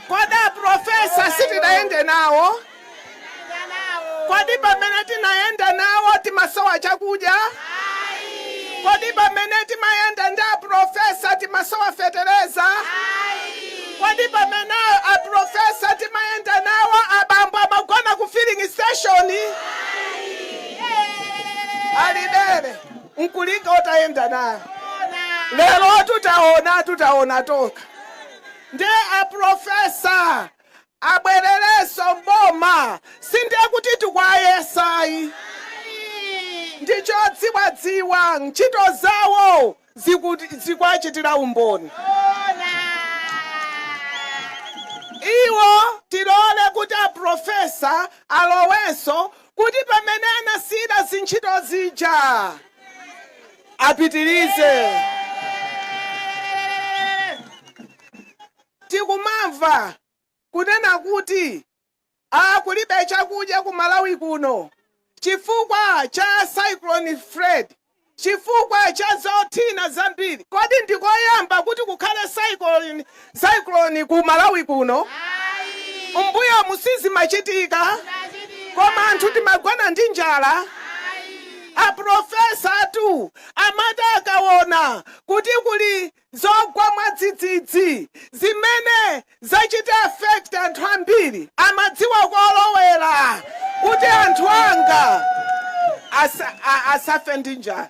Kodi aprofesa sitinayende nawo? Kodi pamene timayenda nawo timasowa chakudya? Kodi pamene timayenda ndi aprofesa timasowa fetereza? Kodi pamene aprofesa timayenda nawo abambo amagona ku filling station? Alibere. N'kulinga utayenda naye lerotu taonatu taona tokha nde a professor abwererenso m'boma sindiye kuti tikuwayesa ayi ndi chodziwadziwa ntchito zawo zikuwachitira umboni iwo tilole kuti a professor alowenso kuti pamene anasiyira zintchito zija apitirize. Tikumamva kunena kuti a kulibe chakudya ku Malawi kuno chifukwa cha Cyclone Freddy. Chifukwa cha zothina zambiri kodi ndi koyamba kuti kukhale cyclone ku Malawi kuno? M'mbuyomu sizimachitika? Koma anthu timagona ndi njala? A professor tu amati akawona kuti kuli. zogwa mwadzidzidzi zimene zachita affect anthu ambiri amadziwa kolowera kuti anthu anga asafe ndi njala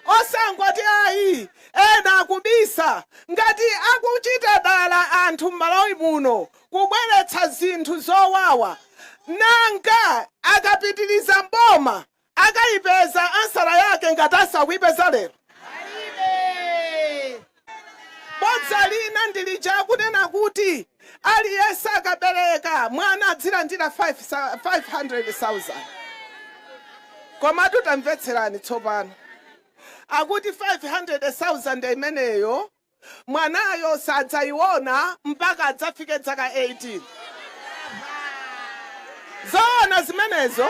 osangoti ayi ena akubisa ngati akuchita dala anthu m'malawi muno kubweretsa zinthu zowawa nanga akapitiriza mboma Akaipeza ansala yake ngati asakuipeza lero bodza lina ndilija akunena kuti aliyese akabeleka mwana adzilandira 500,000 komatu tamvetserani tsopano akuti 500,000 imeneyo Mwanayo sadzaiona mpaka adzafike dzaka 18. Zoona zimenezo?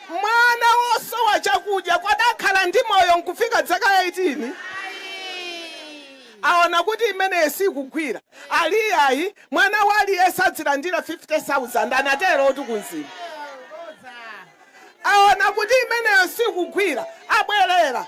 Mwana wosowa chakudya kodi akhala ndi moyo n'kufika dzaka 18? Aona kuti imeneyo sikugwira. Ali iyayi, mwana wa aliyense adzilandira 50,000, anaterotu ku Mzimba. Aona kuti imeneyo sikugwira, abwerera.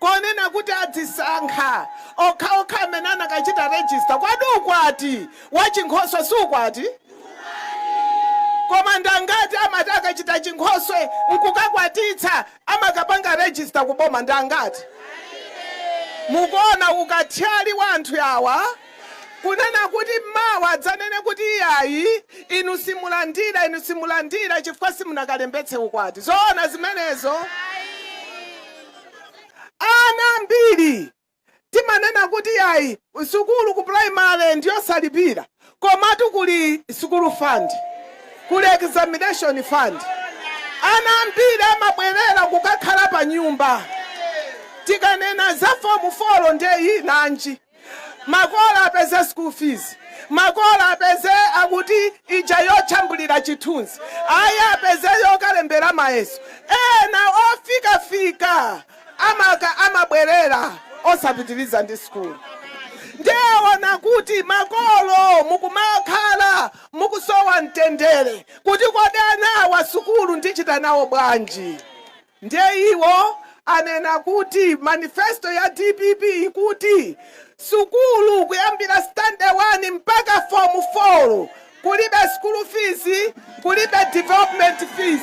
konena kuti adzisankha okhaokha amene anakachita register kodi ukwati wachinkhoswe si ukwati? koma ndi angati amati akachita chinkhoswe nkukakwatitsa amakapanga register ku boma ndi angati? mukuona ukathyali wa anthu awa kunena kuti mawa adzanene kuti iyayi inu simulandira inu simulandira chifukwa simunakalembetse ukwati zoona zimenezo? Ana ambiri timanena kuti yayi sukulu ku primary ndiyosalipira komatu kuli sukulu fund, kuli examination fund. Ana ambiri amabwerera kukakhala panyumba. Tikanena za fomu folo ndiye nanji. Makolo apeze school fees, makolo apeze akuti ija yojambulira chithunzi, ayi apeze yokalembera mayeso. Ena ofikafika amaka amabwerera osapitiriza ndi sukulu. Ndiye waona kuti makolo mukumakhala mukusowa mtendere kuti kodi anawa sukulu ndichita nawo bwanji. Ndiye iwo anena kuti manifesto ya dpp ikuti sukulu kuyambira standard 1 mpaka form 4 kulibe school fees, kulibe development fees.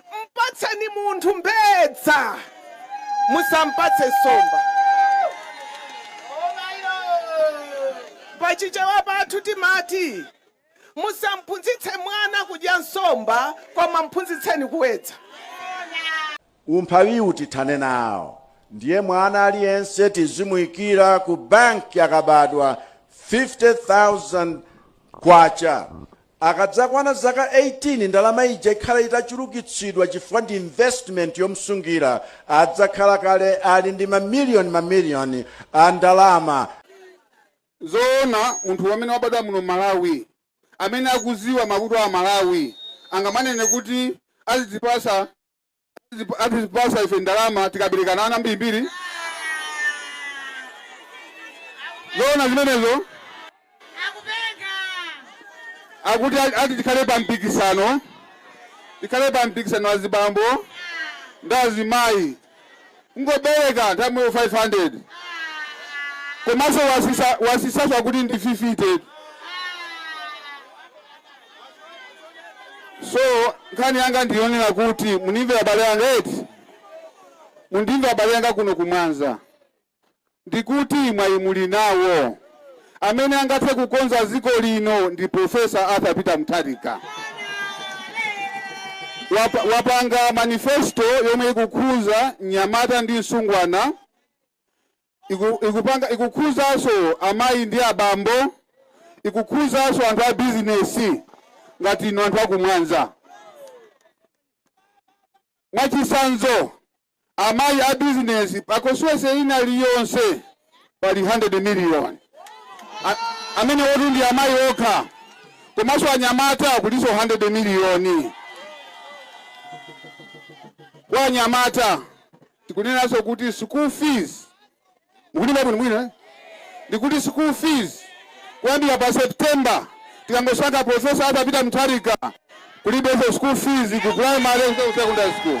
Mpatseni munthu mbedza, musampatse nsomba. Pa Chichewa pathu timati, Musamphunzitse mwana kudya nsomba, koma mphunzitseni kuwedza. Umphawiwu tithane nawo ndiye mwana aliyense tizimuikira ku banki akabadwa 50,000 kwacha. Akadzakwana zaka 18 ndalama ija ikhala itachulukitsidwa chifukwa ndi investment yomsungira, adzakhala kale ali ndi ma million ma million a ndalama. Zoona munthu amene wabadwa muno Malawi amene akuziwa mavuto a Malawi angamanene kuti azidzipasa Azip- azitipasa ife ndalama tikaberekana ana ambirimbiri zoona zimenezo akuti a- ati tikhale pa mpikisano tikhale pa mpikisano azibambo ndi azimayi Kungobereka nthawi yomweyo 500 komaso wasisa wasisaso akuti ndi 50 so nkhani yanga ndiyonena kuti munimve abale anga eti mundimve abale anga kuno ku mwanza Ndikuti mwayi muli nawo. Amene angathe kukonza dziko lino ndi Prof. Arthur Peter Mutharika. Wapa, wapanga manifesto yomwe ikukhuza mnyamata ndi msungwana, iku, ikupanga ikukhuzanso amayi ndi abambo, ikukhuzanso anthu a bizinesi ngati inu anthu aku Mwanza. Mwachitsanzo, amayi a bizinesi pa constituency ina liyonse pali 100 million A- amene woti ndi amayi okha komanso anyamata kulinso 100 miliyoni kwa anyamata tikunenanso kuti school fees mukundimva bwinobwino eh? ndikuti school fees kuyambira pa september tikangosankha profesa Arthur Peter Mutharika kulibenso school fees ku primary ku secondary school